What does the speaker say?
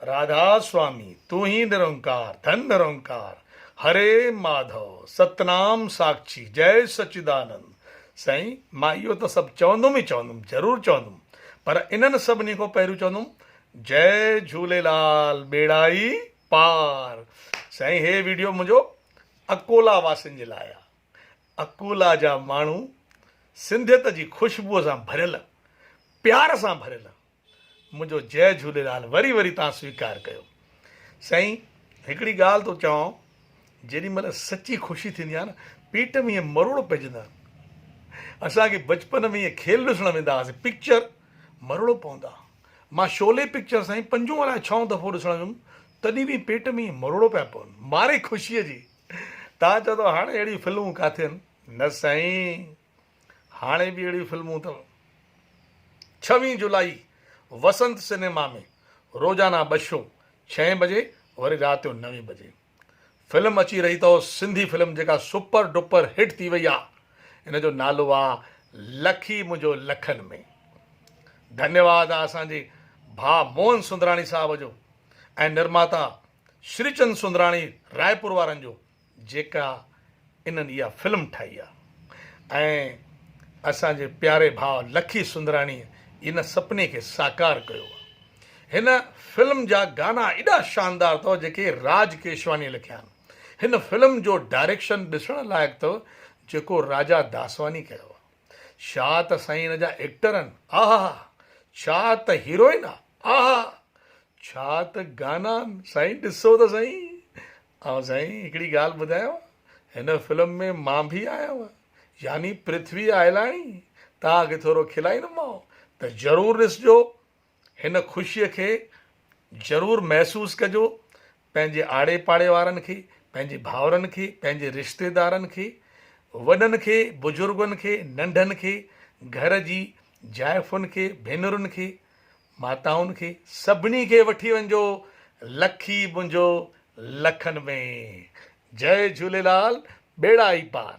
راڌا سوامي تون هي نرنڪار ڌن نرنڪار هري ماڌو ستنام ساکشي جئي سچدانند سائين مان اهو ته سڀ چوندم ئي چوندم ضرور چوندم پر انهن سڀني کان پهريون چوندم جئي جهوليلال ٻيڙائي پار سائين هي ويڊيو منهنجو اڪولا واسين جي لاء آ اڪولا جا ماڻهو سنڌيت جي خوشبوء سان ڀريل پيار سان ڀريل منهنجو جئه جهوليلال وري وري تان سويڪار ڪيو سائين هڪڙي ڳالهه ٿو چوان جيڏي مهل سچي خوشي ٿيندي آهي نه پيٽ ۾ ائين مروڙ پئجندا آهن اسان کي بچپن ۾ ائين کيل ڏسڻ ويندا هئاسين پڪچر مروڙ پوندا مان شولي پڪچر سائين پنجون الاء ڇهون دفعو ڏسڻ ويم تڏهن به پيٽ ۾ ائين مروڙ پيا پون ماري خوشي جي تان چوندو هاڻي اهڙيون فلمون ڪاٿي آهن نه سائين هاڻي به اهڙيون فلمون اٿو. ڇويهين جولائي وسنت سينيما ۾ روزانه ٻه شو ڇهين بجي وري رات جو نوين بجي فلم اچي رهي اٿو سنڌي فلم جيڪا سپر ڊپر هٽ ٿي وئي آ ان جو نالو آ لکي منهنجو لکن ۾ ڌنيواد آ اسان جي ڀا موهن سندراڻي صاحب جو ۽ نرماتا شريچند سندراڻي رائپور وارن جو جيڪا انهن اها فلم ٺاهي آ ۽ اسان جي پياري ڀاء لکي سندراڻي ان سپني کي ساڪار ڪيو آ هن فلم جا گانا ايڏا شاندار اٿو جيڪي راج ڪيشواني لکيا آهن هن فلم جو ڊائريڪشن ڏسڻ لائق اٿو جيڪو راجا داسواني ڪيو آ ڇا ته سائين ان جا ايڪٽر ان آهاها ڇا ته هيروئن آ آهاها ڇا ته گانا ان سائين ڏسو ته سائين آئون سائين هڪڙي ڳالهه ٻڌايانو هن فلم ۾ مان به آهيان يعني پرٿوي آئلاڻي توهان کي ٿورو کلائيندومانو ته ضرور ڏسجو هن خوشي کي ضرور محسوس ڪجو پنهنجي آڙي پاڙي وارن کي پنهنجي ڀائرن کي پنهنجي رشتيدارن کي وڏن کي بزرگن کي ننڍن کي گهر جي جائفن کي ڀينرن کي ماتائن کي سڀني کي وٺي وڃجو لکي منهنجو لکن ۾ جئي جهوليلال ٻيڙا ئي پار.